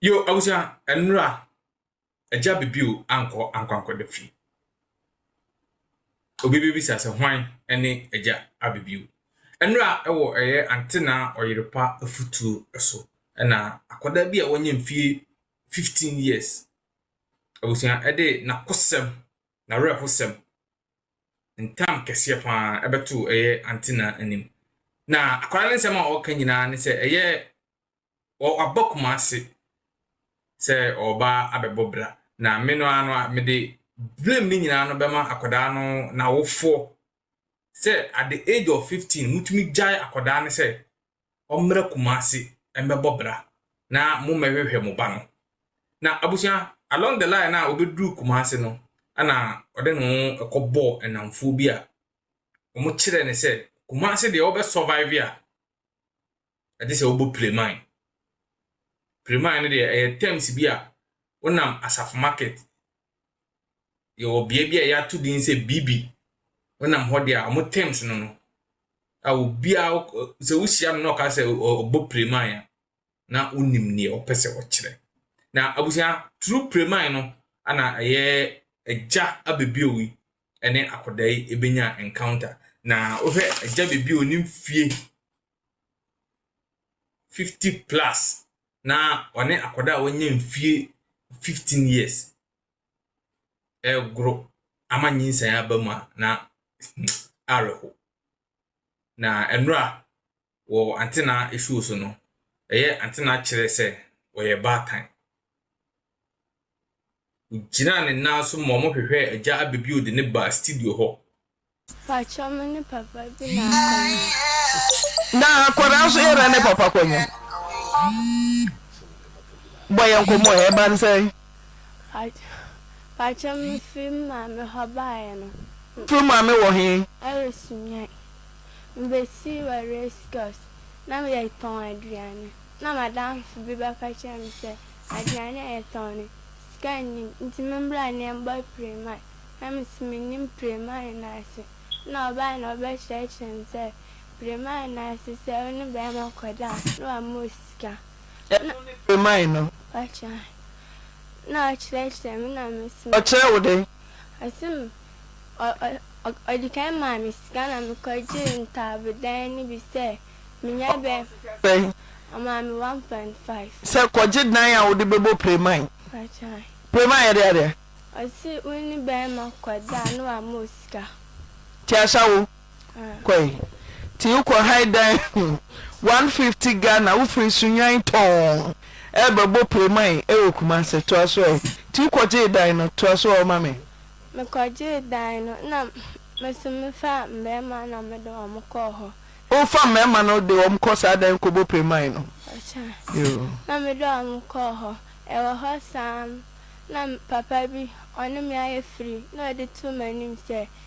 Yo abusua ɛnra agya bibiw ankɔ ankwankɔda fie obi bebisa sɛ hwan ɛne agya abibiw ɛnra ɛwɔ ɛyɛ ante na ɔyere pa afutuo ɛso ɛna akɔda bi a wanya mfie 15 years abusua ɛde nakosɛm na wrɛhosɛm ntam kɛseɛ paa ɛbɛto ɛyɛ ante na anim na akɔda ne nsɛm a ɔka nyinaa ne sɛ ɛyɛ ɔaba Kumasi sɛ ɔreba abɛbɔ bra, na me no ara no a, mede blame no nyinaa no bɛma akwadaa no n'awofoɔ sɛ at the age of 15 motumi gyae akwadaa no sɛ ɔmmra Kumasi mmɛbɔ bra na mommɛhwehwɛ mo ba no. Na abusua, along the line a ɔbɛduru Kumasi no, ɛna ɔde ne ho ɛkɔbɔɔ ɛnamfoɔ bi a wɔkyerɛɛ no sɛ Kumasi deɛ wobɛ survive a ɛte sɛ wobɔ pireman. Pireman no deɛ ɛyɛ terms bi a wonam asafo market yɛwɔ bea bi a yɛato din sɛ bibi wonam hɔ deɛ a wɔn terms no no a obiara sɛ wohyia no na ɔka sɛ ɔbɔ pireman a na wonim deɛ ɔpɛ sɛ ɔkyerɛ na abusua turu pireman no ana ɛyɛ agya abɛbio yi ne akwadaa yi ɛbɛnya encounter na wohwɛ agya bɛbi a ɔnim fie fifty plus na ɔne akwadaa a wanya mfie fifteen years ɛregoro ama nyinsɛn aba mu a na awerɛho na nnora wɔ Antena afuo so no, ɛyɛ Antena kyerɛ sɛ ɔyɛ baatan. Ɔgyinaa ne nan so ma wɔhwehwɛɛ Agya Abbey bio de no baa studio hɔ. Pakyɛ me ne papa bi na akɔnyin. Na akwadaa nso yɛn na ne papa kɔnyin. Bɔ yɛn nkɔmmɔ ɛ, ɛba no sɛn? Pakyɛ me firi me maame hɔ baeɛ no. Wo firi wo maame wɔ he? Ɛwɔ Sunyani. Mibesii wɔ Rhesus na meretɔn aduane. Nna m'adamfo bi bɛka kyerɛ me sɛ aduane a yɛtɔn no, sika nnim, ntsi mombra na yɛmbɔ pireman. Nna me so minnyim pireman no ase. Nna ɔbae na ɔbɛkyerɛkyerɛɛ me dɛ pireman no ase, sɛ wo ne barimba kɔda a, na ɔama wo sika. Nna. Ɛno ne pireman no? Ɔkyerɛɛ me. Nna ɔkyerɛkyerɛɛ me na me so. Ɔkyerɛɛ wo dɛn? Ɔse me. Ɔde kan maa me sika na mekɔgyee ntaabodan no bi sɛ menya bɛn? Ɔmaa me one point five. Sɛ kɔgye dan a wode bɛbɔ Premae. Premae yɛde adeɛ. Ɔse wo ne bɛrima kɔda a na wama wo sika. Nti ahyɛ wo? Kɔe. Nti wokɔ han dan mu one fifty Ghana wofiri Sunyani tɔɔn ɛrebɛbɔ Playman ɛwɔ Kumasi toa so ɛ. Nti wokɔ gyee dan no toa so ɔ ma me. Mekɔ gyee dan no na me nso me fa mmarima na me de wɔn kɔɔ hɔ. Wo fa mmarima no de wɔn kɔ saa dan kɔbɔ Playman no? Ɔkyɛ. Yoo. Na me de wɔn kɔɔ hɔ. Ɛwɔ hɔ saa no na papa bi ɔne me ayɛ firi na ɔde too m'anim sɛ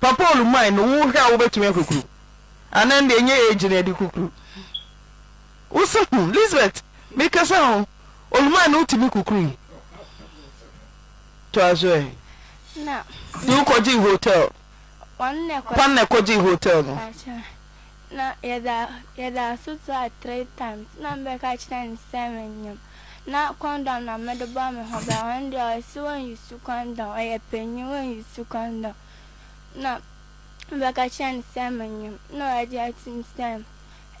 Papa Olumai no wo hwɛ a wobɛtumi akukuru anaa ɛnde ɛnyɛ age na ɛde kukuru wo se ho Lisbeth mekasa ho Olumai no wotumi kukuru yi toa so ɛ ti wokɔgye hotel kwan na ɛkɔgye hotel no. na yɛda yɛda so to a three times na me bɛka kyerɛ no sɛ menyem na condom na mede bɔ me ho ban ɔno deɛ ɔse wɔn use condom ɔyɛ panyin wɔn use condom na me bɛka kyerɛ no sɛ menyem na wagye atum sɛ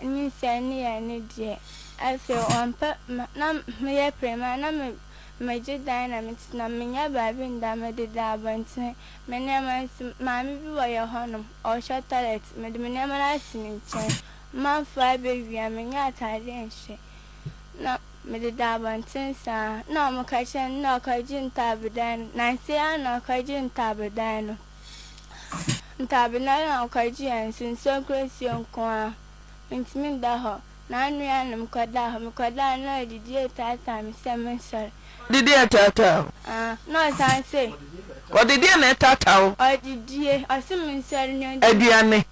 nyinsɛn ne yɛ ne deɛ afei ɔmpɛ na meyɛ prema na me megye dan na metena menyɛ baabi nda mede da abɔntene Me nneɛma nso, maame bi wɔ yɛn hɔnom, ɔhwɛ tɔlɛt. Mede me nneɛma no asi ne nkyɛn. Mamfa abɛwia, mennya atadeɛ nhyɛ, na mededa abɔnten saa. Na wɔka kyerɛ no, na ɔkɔgye ntaabodan no. Nnansa yi ara na ɔkɔgyee ntaabodan no. Ntaabodan no a ɔkɔgyeeɛ nso, nsuo kura nsuo nko ara. Mentumi nda hɔ. N'anuanom kɔdaa hɔ. Mekɔdaa no na ɔde dua retaataa me sɛ mensɔre. Ɔde dua retaataa wo? Aa, na ɔsan se. Ɔde deɛn na ɛretaataa wo? Ɔde dua, ɔse mensɔre na ɔndi me. Aduane?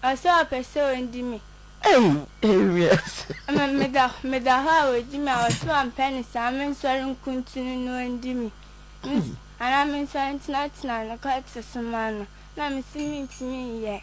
Ɔse ɔpɛ sɛ ɔdi me. Ei, ei wiase. Me, meda, meda hɔ a ɔdi me a, ɔse ɔmpɛ no saa, mensɔre nkuntunu na ɔndi me. Me, anaa mensɔre ntenatena ne kɔte so mma no, na mese mentumi nyɛ.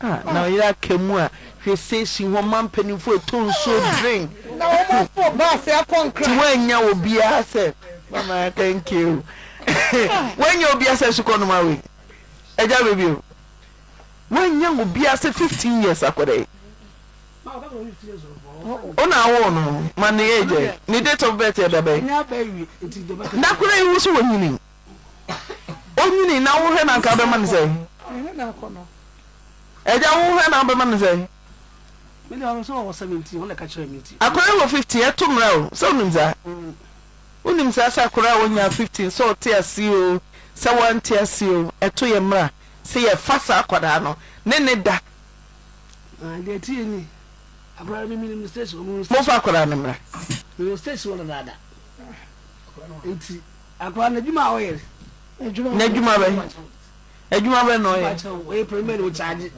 A na ɔyere aka mu a hwɛ sei si hɔ ma mpaninfoɔ ɛtɔ nsuo drink na wɔn afo bus ɛkɔ nkran. Ti wannya obiara sɛ mama thank you wannya obiara sɛ sukɔ noma wei ɛgya baby o wannya obiara sɛ 15 years akɔda yi ɔna awo no ma ne age ne date of birth ɛda bɛyi nakora yi wo so wɔnyini. Onyini na wohwɛ na nka bɛma no sɛn? Agya wohwɛ na wobɛma no sɛn? Akora wɔ 15 ɛto mmra o sɛ wonim saa? Wonim saa sɛ akora a wɔnya 15 sɛ ɔte ase o sɛ wante ase o ɛto yɛ mmra sɛ yɛfa saa akwadaa no ne ne da. Mofa akwadaa no mmra. Akwadaa no adwuma a ɔyɛ no. N'adwuma bɛ adwuma bɛ na ɔyɛ. Ɔyɛ pɛrɛmɛ na ɔkyaagye.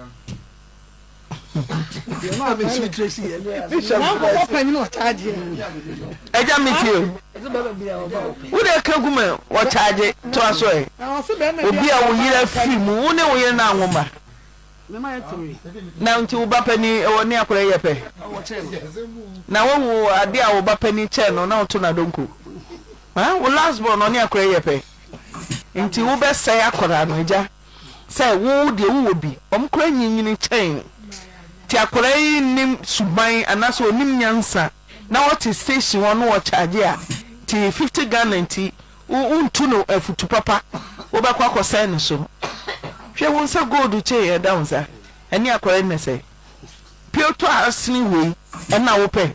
Yɛ maa mi si tire si yɛ. N'akɔkɔ panyin ɔkyaagye. Ɛgya mi ti o. Wo de ka gu mɛ ɔkyaagye to aso ɛ. Obi a wo yere afiri mu wo ne wo yere na anwo mma. Na nti wo ba panyin ɛwɔ ne akɔrɔ yɛ pɛ. Na wo wo ade a wo ba panyin kyɛn no na ɔto na donko. Ɛn wo last born no ɔne akora yi yɛ pɛ nti wo bɛ sɛe akora no agya sɛ wo deɛ wo wɔ bi ɔmo kora nyinyini kyɛn nti akora yi nnim suban anasɛ ɔnim nyansa na ɔte station hɔ no ɔkyagye a nti fifty Ghana nti wo wo ntu no afutu papa wo bɛ kɔ akɔ sɛe no so hwɛ wo nsa gold chain ɛda wo nsa ɛne akora yi na sɛe pio tɔ asene wei ɛna wo pɛ.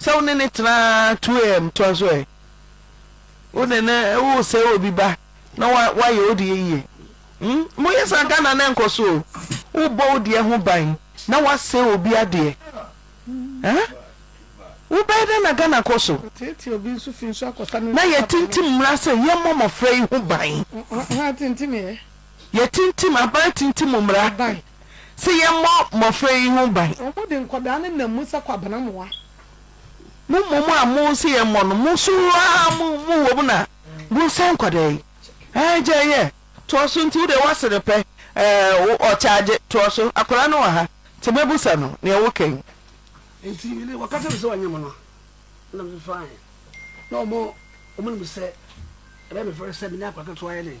sɛ wo ne no tena ara two am toa so ɛ wo ne no wosɛ obi ba na woayɛ wo deɛ yie hmm moyɛ saa Ghana na ɛnkɔ so o wobɔ wo deɛ ho ban na woasɛ obi adeɛ eh wobɛyɛ dɛ na Ghana kɔ so na yɛtintim mmara sɛ yɛmmɔ mmɔfra yi ho ban yɛtintim aban tintim mmara sɛ yɛmmɔ mmɔfra yi ho ban. Wɔde nkwadaa no nam mu sɛ kwabena mmoa. Mo mmom a mo se yɛmmɔ no, mo so ara mo mo wom na mo sɛe nkwadaa yi. Ɛɛ, gyae yɛ, toa so, nti wo deɛ woase no pɛ, ɛɛ, wo, ɔkyaagye, toa so, akwadaa no wɔ ha, nti mɛbusa no nea woka yi. Nti mede, wɔka kyerɛ me sɛ wɔnyɛ mo no, ɛna me faeɛ, na wɔn, wɔn nim sɛ ɛbɛyɛ me fɛre sɛ me ne akwadaa ketewa yɛ dɛn.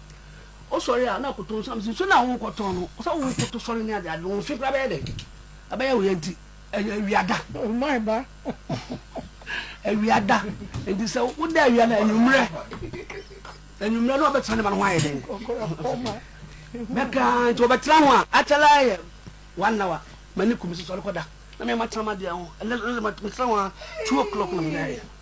Wosɔre a na koto nsa no si nsuo no a worekɔtɔn no sɛ worekoto sɔre ne adeade no wo mfe koraa bɛyɛ dɛn? Ɛbɛyɛ wo ya nti ɛyɛ awia da. Oh my ba. awia da nti sɛ woda awia no anwummerɛ anwummerɛ na ɔbɛtena ne ma no ho ayɛ dɛn? bɛkaa nti ɔbɛtena ho a akyɛlɛ ayɛ one hour ma ne kum si sɔre kɔda na mema tena ma deɛ ho ɛnɛ metena ho a two o'clock na meda ayɛ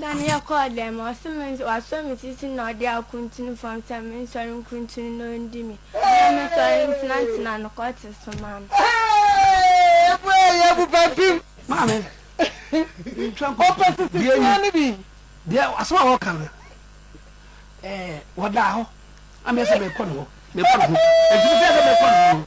Da no yɛkɔɔ dan mu, ɔse me nso wasɔ me sisi na ɔde akuntunu fam sɛ mensɔre nkuntunu na ɔndi me. Ɔse mesɔre ntenatena no kɔ te so ma me. Maame, ntwa nku. Ɔpɛ sisi Deɛ fua ni- no bi. Deɛ asɛm a wɔka no, ɛɛ, wɔdaa hɔ. Na meyɛ sɛ merekɔ ne hɔ. Merekɔ ne ho. Enti mefrɛɛ sɛ merekɔ ne ho no,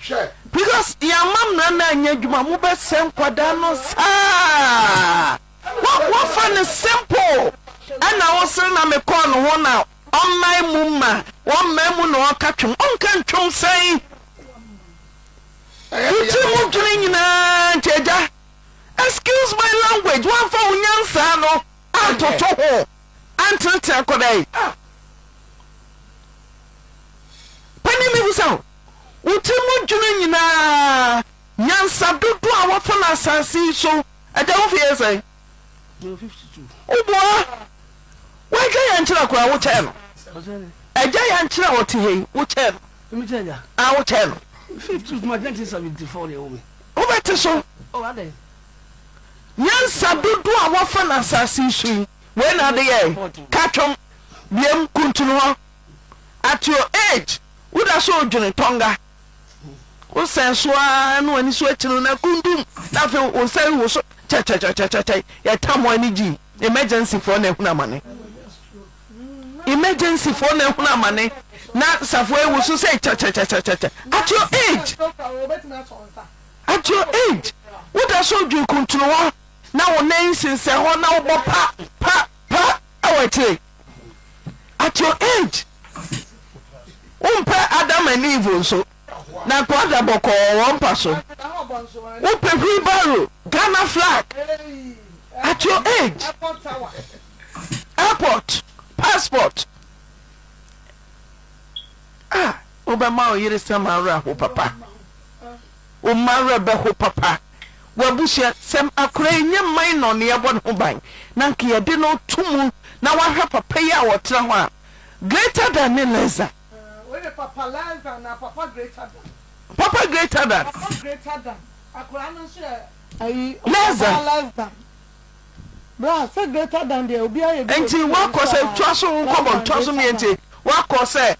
hwɛ. Because yɛama mmara no anyɛ adwuma mo bɛ sɛe nkwadaa no saa wo fa no simple ɛna wo sere na me kɔɔ no ho na ɔmmae mu ma ɔmmae mu na ɔka twom ɔnka ntwom sɛn wo tiri mu dwene nyinaa nti agya excuse my language wamfa wo nyansaa no antoto ho. Antsenatsena kɔ dɛn? Ah! Panyin no bisa no, Wo tsir mu dwuma nyina, nyansa dodow a wɔfa no asaase yi so, agya wo mfe yɛ sɛn? Wo boa, w'agya yɛnkyerɛ kor a, wo kyɛɛ no. Agya yɛnkyerɛ a ɔtse ha yi, wo kyɛɛ no. Ah, wo kyɛɛ no. Wobɛtse so. Nyansa dodoɔ a wɔafa no asase yi so yi, wei na ade yɛe, ka twom, biam, kuntunu hɔ. At your age, wo da so redwene Tonga. Wo sɛn so ara na w'ani so akyi no na kundum, na afei wo nsa rewo so kyɛkyɛkyɛkyɛkyɛ, yɛtam wɔn ani gyii. Emergency foɔ na ahunu amane. Emergency foɔ na ahunu amane na safoɔ yi wo so sɛ kyɛkyɛkyɛkyɛkyɛ. At your age. At your age, woda so dwen kuntunowa na wo nan sensɛn hɔ na wobɔ pa, pa, pa wɔ akyire. At your age, wompɛ Adam and Eve nso, na nkoa da bɔkɔɔ wɔn mpa so. Wopɛ wheelbarrow, Ghana flag. At your age, airport, passport. Ah, wobɛma wo yere sɛ m'awerɛhow papa. Wo mma werɛ bɛho papa. W'abusua sɛm akora yi nyɛ minor na yɛbɔ ne ho ban na nka yɛde no to mu na w'ahwɛ papa yi a ɔtena hɔ a greater than ne lesser. Wode papa less than anaa papa greater than. Papa greater than. Papa greater than akora no nso yɛ ayi lesser. Ɔbaa less than. Bra sɛ greater than deɛ obiara yɛ bi wɔ school. Nti w'akɔ sɛ twa so nkɔbɔ ntwa so mie nti w'akɔ sɛ.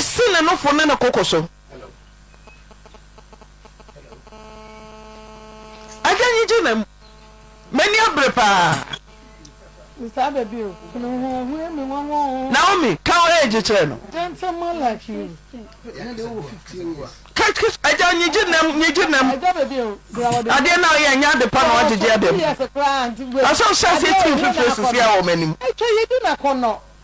Si ne nofo ne ne koko so. Agya nyi gyina mu. M'ani abere paa. Naomi, ka wo age kyerɛ no. Agya nyi gyina mu, nyi gyina mu. Adeɛ na ɔyɛ nyɛ ade pa na wagyegye adeɛ mu. Asɔ sɛ ase tiri fifiri sisi a wɔ m'anim.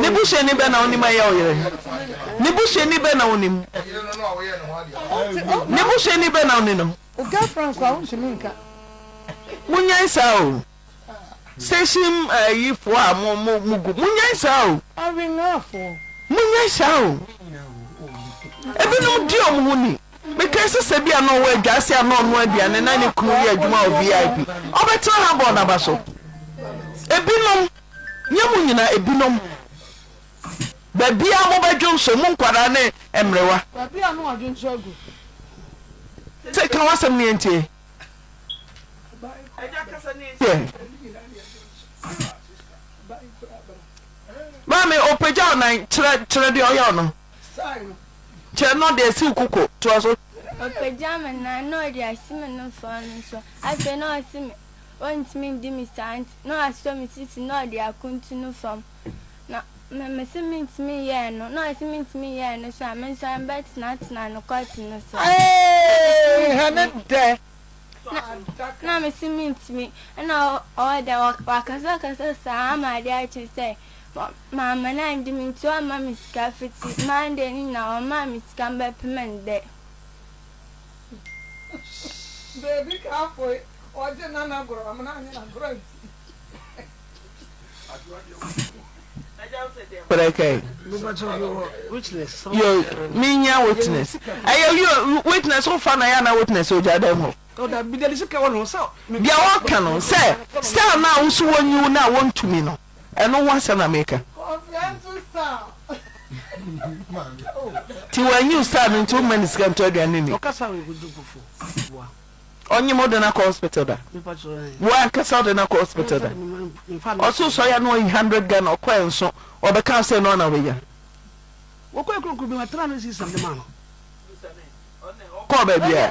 Ne busuani bɛn na wonim a ɛyɛ wo yere? Ne busuani bɛn na wonim? Ne busuani bɛn na wone no? Munyan saa o. Station ayifoɔ a mo mo mo gu munyan saa o. Munyan saa o. Ebinom di wɔn ho ni. Mekae sɛ sɛ ebia na ɔwɔ adwase a na ɔnoa aduane na ne kunu yɛ adwuma wɔ VIP, ɔbɛtena ha abɔ n'aba so. Ebinom, nyɛ mo nyinaa, ebinom, baabiara mobɛdwo nso, mo nkwadaa ne mmerewa. Baabiara na wɔadwo nso agu. Sɛ ka w'asɛm no yɛntie. Agya kasa no yɛntie. Maame, ɔpagya wo nan, kyerɛ, kyerɛ deɛ ɔyɛ wo no. Kyerɛ no deɛ siw koko. Toa so. Ɔpagya me nan na ɔde asi me nofaa no so, afei na ɔse me ɔntumi ndi me saa nti na wasɔ me sisi na ɔde akontu no fam na me mese mentumi nyɛ ɛno na ɔse mentumi nyɛ ɛno so a mensɔre mbɛtenatena no kɔt no so na mese mentumi ɛna ɔwɔ dɛ wakasakasa saa ama adeɛ akye sɛ Maame no anngye me nti ɔamma me sika fitsi Monday ne nyina ɔmmaa me sika mbɛpem ndɛ. Beebi ka afoe ɔgye nana goro amena anyi na goro anti. Prɛkɛɛ yo me nya witness ɛyɛ yo witness wo fa na yɛ na witness ogya dɛm hɔ deɛ wɔka no sɛ sɛ na woso wɔnyi wo na wontumi no. Ɛno ho asɛm na meka. Nti w'anyi wo star no nti wo mma no sika ntɔ aduane nni. Ɔnyem wo de no akɔ hospital da. Wo ankasa wo de no akɔ hospital da. Ɔso sɔ ya no ɔyi hundred Ghana ɔkɔ ɛnso ɔbɛka wo sɛ no ɔna ɔbɛnya. Kɔɔ baabiara.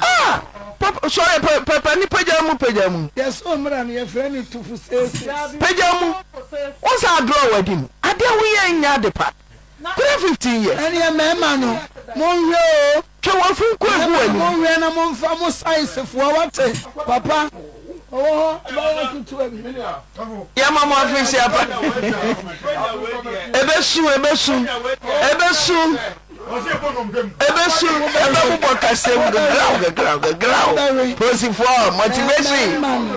Ah! Papa, sorry, pa, papa ni pagya mu, pagya mu. Yɛsoo mmra no, yɛfrɛ no tufo seesei. Pagya mu. Wo saa draw wadi mu. Adeɛ wo yɛ nyɛ ade pa. Three fifteen years. Ɛneɛ mɛɛma no, monhwɛ oo. Twɛ w'afu nko egu w'anim. Mɛɛma no monhwɛ na monfa mo size foɔ, wate, papa. Ɔwɔ hɔ, abaayewa ketewa bi. Yɛma mo afehyia pa. Ebesu, ebesu, ebesu. Ebesu, ɛbɛbobɔ kasam gegraw gegraw gegraw. Polisifoɔ, motivation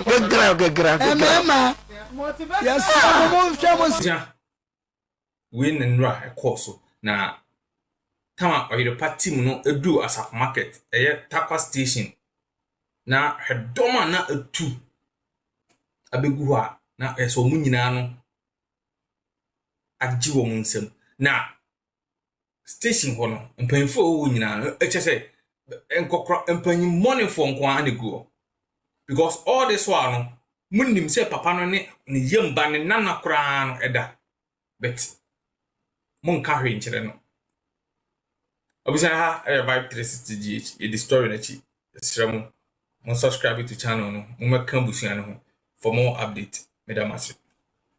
gegraw gegraw gegraw. Mmarima, yɛsrɛ mo monhwɛ mo. Gya, wei ne nnora a ɛkɔɔ so na tam a ɔyerepa tim no duu Asafo Market, ɛyɛ Tarkwa Station, na hwɛ dɔm a na atu abɛgu hɔ a na ɛyɛ sɛ wɔn nyinaa no agye wɔn nsam. Na station hɔ no, mpanyimfo a wɔwɔ nyinaa no, ɛkyɛ sɛ nkɔkora mpanyimɔnefo nko ara na egu hɔ. Because all this while no, munim sɛ papa no ne ne yam ba ne nana koraa no ɛda. But monka hwee nkyerɛ no. Obisa ha ɛyɛ vibe 360 GH, yɛdi story no akyi. Ɛsrɛ mo, mo subscribe to channel no, mommɛka abusua no ho for more update. Meda mo ase.